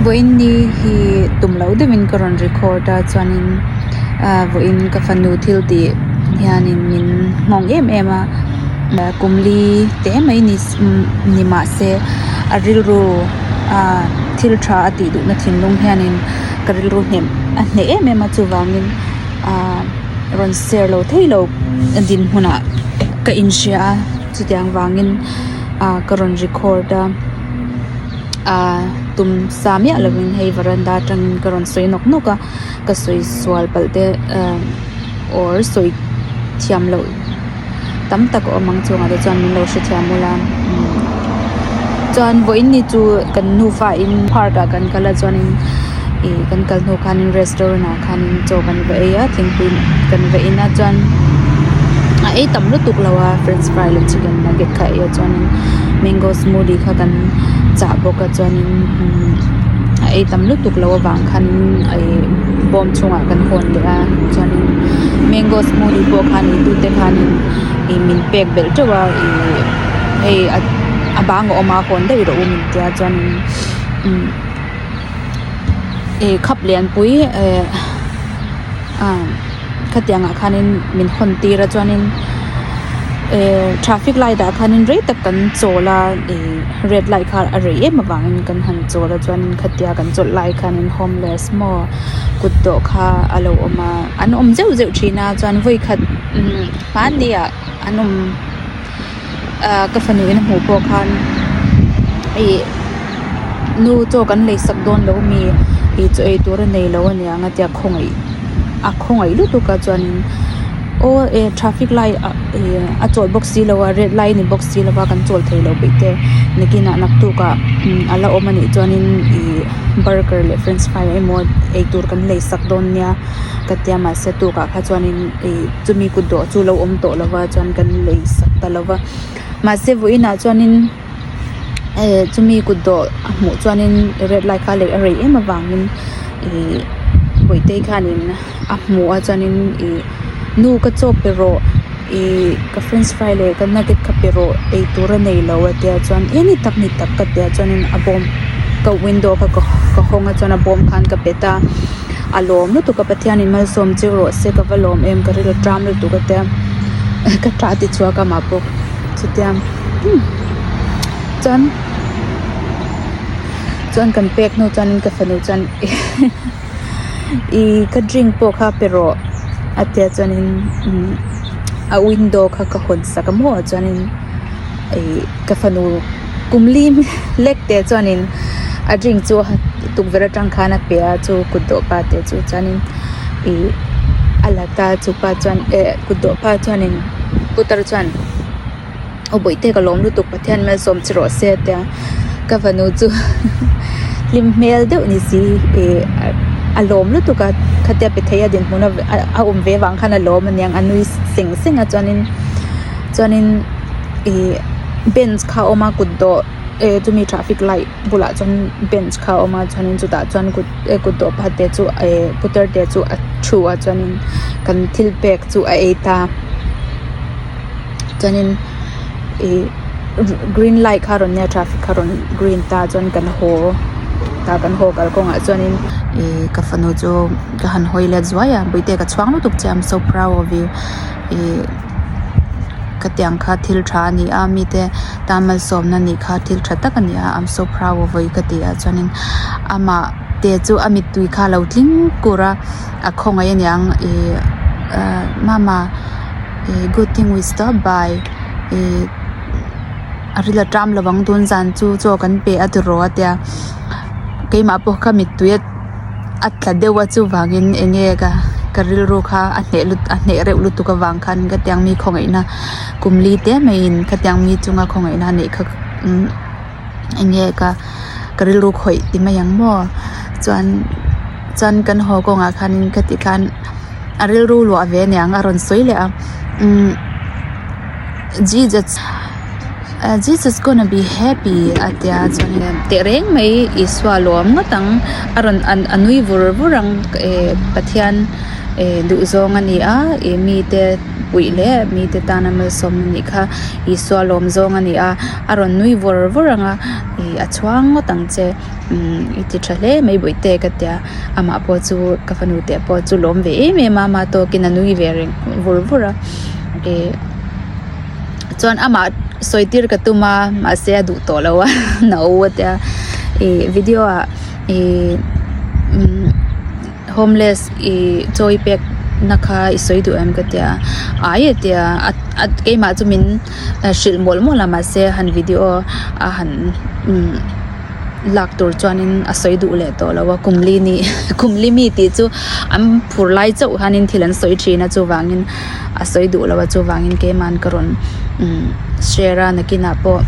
vawiin ni hi tum lo deuhin ka rawn record a chuanin ahh vawiin ka fanu thil tih hianin min nghawng em em a ah kum li te mai ni ni mah se a rilru ah thil tha a tih duhna thinlung hianin ka rilru hnem a hneh em em a chuvangin ah rawn share lo thei lo a dinhmunah ka inhria a chutiang vangin ah ka rawn record a. Ahh tum sa miah lovin hei varanda atangin ka rawn sawi nawk nawk a ka sawi sual palh te umm or sawi thiam loh tam tak awm ang chungah te chuan min lo hrethiam ula umm chuan vawiin ni chu kan nufa in park ah kan kal a chuanin ihh kan kal hnu khanin restaurant ah-- khan chaw kan va ei a thingpui kan va in a chuan a ei tam lutuk lo a french fry leh chicken nugget kha eia chuanin mango smoothie kha kan chah bawk a chuanin a ei tam lutuk lo avang khan ai bawm chungah kan hawn leh a chuanin mango smoothie pawh khan eitute khanin ih min pek belh teuh a ih hei a bang a awm a hawn deuh i rawh u min tia chuanin imm-- ih khap leh an pui eh ah khatiang ah khan in min hawn tir a chuan in eh traffic light ah khan in rei tak kan chawl a ih red light kha a rei em avang in kan han chawl a chuan in khatia kan chawlh lai khan in homeless maw kut dawh kha a lo awm a an awm zeuh zeuh thin a chuan vawi khat hmani ah an awm. ka fanu in a hmuh pawh khan ih nu chaw kan lei sak dawn loh mi eichawh eitur a nei loh a ni ang a tia khawngaih a khawngaih lutuk a chuanin aw e traffic light ah ih a chawlh bawk si lo a red light a ni bawk si lo a kan chawlh thei loh beih te nakinah naktuk ah a la awm a nih chuanin ih burger leh french fry emaw eitur kan lei sak dawn nia ka tia mahse tukah kha chuanin ih-- chumi kut dawh chu lo awm tawh lova chuan kan lei sak ta lo va mahse vawiinah chuanin eh chumi kut dawh a hmuh chuanin red light kha leh a rei em avangin ih vawihtei khanin a hmu a chuanin ih nu ka chawp pe rawh ih ka french fry leh ka nugget kha pe rawh eitur a nei lo a tia chuan eh ni tak ni tak ka tia chuan a bawm ka window kha ka hawng a chuan a bawm khan ka pe ta. A lawm lutuk a Pathian in malsawm chiu rawh se ka va lawm em ka rilru ṭam lutuk a tia ka ṭah ti chhuak a mah bawk chutia chuan chuan kan pek hnu chuan ka fanu chuan ihh ka drink pawh kha pe rawh a tia chuan in a window kha ka hawn sak a maw chuan in ihh ka fanu. kum li lek teh chuanin a drink chu tukverh atang khan a pe a chu kut dawh pa teh chu chuanin ih a la ta chu pa chuan eh kut dawh pa chuanin putar chuan aw bawihte ka lawm lutuk pathian i mel sawm che rawh se a tia ka fanu chu hlim hmel deuh ni si eh a lawm lutuk a khatia pe theih a dinhmun a a awm ve vang khan a lawm aniang a nui seng seng a chuanin chuanin ih-- bench kha a awm a kut dawh ehh chumi traffic light bulah chuan bench kha a awm a chuanin chutah chuan kut ehh kut dawh pakhat te chu ehh putar te chu a thu a chuanin kan thil pek chu a ei ta chuanin ihh green light kha a rawn nia traffic kha a rawn green ta chuan kan haw ta kan haw kal kawngah chuanin ihh ka fanu chu ka han hawi let zuai a buhite ka chhuak lutuk che I'm so proud of you ihh-- khatiang kha thil tha a ni a mite tan malsawmna nih kha thil tha tak a ni a I'm so proud of you ka ti a chuanin amah te chu a mittui kha a lo tling kur a a khawngaih a niang ih ahh mama ih good thing we stop by ih a ril a ṭam lovang tunzan chu chaw kan pe a ti rawh a tia keimah pawh kha mittuia-- a tla deuh a chuvangin eng nge ka ka rilru kha a hneh lut a hneh reuh lutuk avang khan khatiang mi khawngaihna kum li te mai in khatiang mi chunga khawngaihna neih kha umm eng nge ka ka rilru khawih ti mai ang maw chuan chuan kan haw kawnga khan in khati khan a rilru luah ve nia ang a rawn sawi leh a umm Jesus -- ah Jesus gonna be happy a tia chuan in a teh reng mai Isua lawm ngawt ang a rawn an a nui vur vur ang eh Pathian eh duh zawng a ni a eh mite puih leh mite tana malsawm a nih kha Isua lawm zawng a ni a a rawn nui vur vur ang a ih a chhuang ngawt ang che umm i ti tha hle mai buai te ka tia amah pawh chu ka fanu te pawh chu lawm ve em em a mah tawkin a nui ve reng vur vur a eh. chuan amah sawi tir ka tum a mahse a duh tawh lo a na u a tia ih video ah ih umm homeless ih chawi pek na kha i sawi duh em ka tia ai a tia a keimah chu min hrilh mawlh mawlh a mahse han video a han umm lak tur chuanin a sawi duh leh tawh lo a kum li ni kum li mi tih chu an phur lai chauh hian thil an sawi thin a chuvangin-- a sawi duh lo a chuvangin keimahan ka rawn umm share a nakinah pawh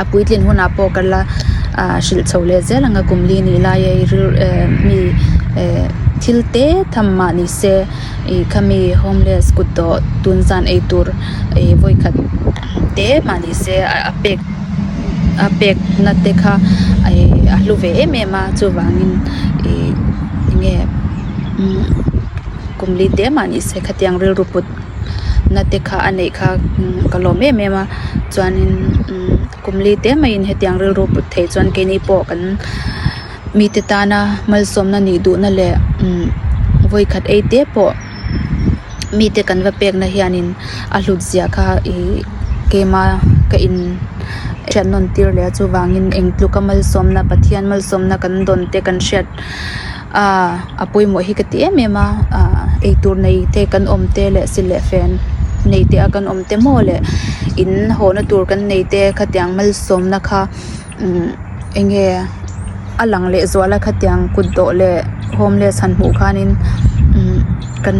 a puitlin hunah pawh ka la ahh hrilh chho leh zel ang a kum li nih lai a i rilru eh mi eh thil te tham mah ni se i khami homeless kut dawh tun zan ei tur ih vawi khat te mah ni se ah a pek a pek na te kha ai a hlu ve em em a chuvangin ih enge umm-- kum li teh mah ni se khatiang rilru put na te kha a neih kha ka lawm em em a chuanin kum li te maiin hetiang rilru put theih chuan keini pawh kan mite tana malsawm na nih duh na leh vawi khat ei te pawh mite kan va pek na hianin a hlut ziah kha i keima ka in hriatnawn tir leh a chuvangin engtluk a malsawm na pathian malsawm na kan dawn te kan hriat-- Aaa a pawimawh hi ka ti em em a aaa eitur nei te kan awm te leh silh leh fen nei te a kan awm te maw leh in hawhna tur kan nei te khatiang malsawmna kha imm enge a lang leh zual a khatiang kut dawh leh homeless han hmuh khanin imm kan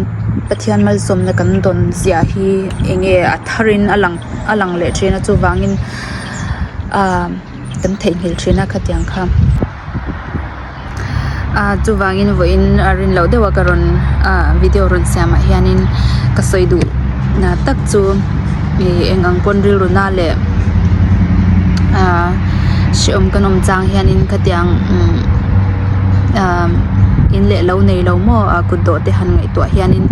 pathian malsawmna kan dawn zia hi enge a thar in a lang a lang leh thin a chuvangin aaa kan theihnghilh thin a khatiang kha. ah chuvangin vawiin a rinloh deuh a ka rawn ah video rawn siamah hianin ka sawi duh na tak chu ih eng ang pawn rilruna leh ah hrehawm kan awm chang hianin khatiang umm ah in leh lo nei lo maw ah kutdawhte han ngaihtuah hianin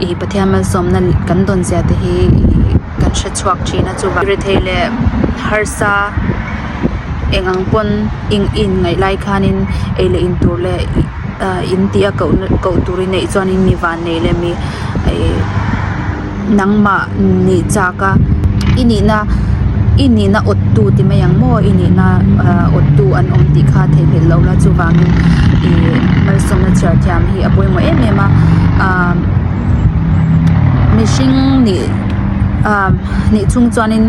ih pathian malsawmna kan dawn zia te hi ih-- kan hre chhuak thin a chuvang re thei leh harsa eng ang pawn in in ngaih lai khanin ei leh in tur leh ah in tih a koh na koh tur i neih chuanin mi van nei leh mi ih nangmah nih chak a i nihna i nihna awt tu ti mai ang maw i nihna ah awt tu an awm tih kha theihhlelh loh la chuvangin ih malsawmna chhiar thiam hi a pawimawh em em a ah mihring nih-- hnih chung chuanin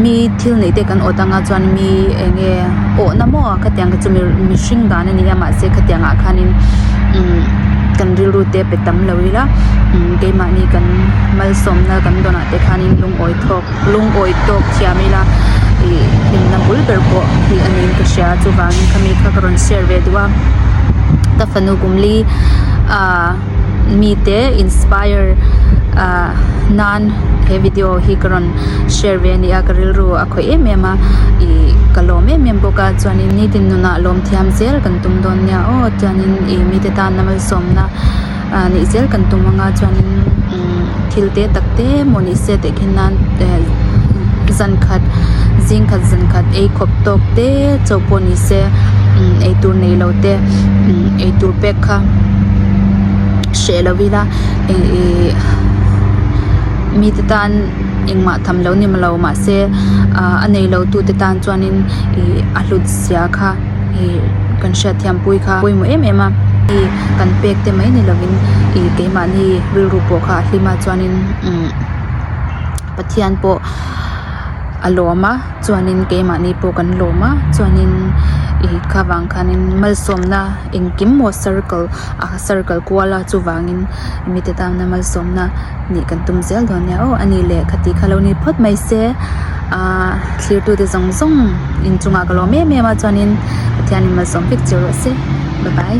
mi thil neih te kan awt anga chuan mi eng nge awhna maw a ka tiang ka chu mihring dan a nia mahse khatiang ah khanin kan rilru te pe tam lo ila keimahni kan malsawm na kan dawn ah te khanin lungawi thawk lungawi tawk thiam ila ih hlimna bul ber pawh tih a niin ka hria chuvangin khami kha ka rawn share ve duh a ka fanu kum li ahh-- mite inspire ah nan he video hi ka rawn share ve a nia ka rilru a khawih em em a ih ka lawm em em bawk a chuanin nitin nunah lawm thiam zel kan tum dawn nia aw chuanin ih mite tan lam alsawmna ah nih zel kan tum anga chuanin-- umm thil te tak te maw ni se teh khin nan eh zan khat zing khat zan khat ei khawp tawk te chauh pawh ni se umm ei tur nei lo te umm ei tur pek kha hreh lo ila eng ih mi te tan engmah tham lo nem lo mahse ah a nei lo tute tan chuanin ih a hlut sia kha. ih kan hriatthiampui kha a pawimawh em em a ih kan pek te mai ni lovin ih keimahni rilru pawh kha a hlim a chuanin umm pathian pawh a lawm a chuanin keimahni pawh kan lawm a chuanin ih khava'n khanin malsawmna engkim maw circle ah circle kual a chuvangin-- mite tana malsawmna nih kan tum zel dawn nia aw anih leh kha tih kha lo ni phawt mai se aaa thirtu te zawng zawng inchungah ka lawm em em a chuanin pathian in malsawm fik chho rawh se bye bye .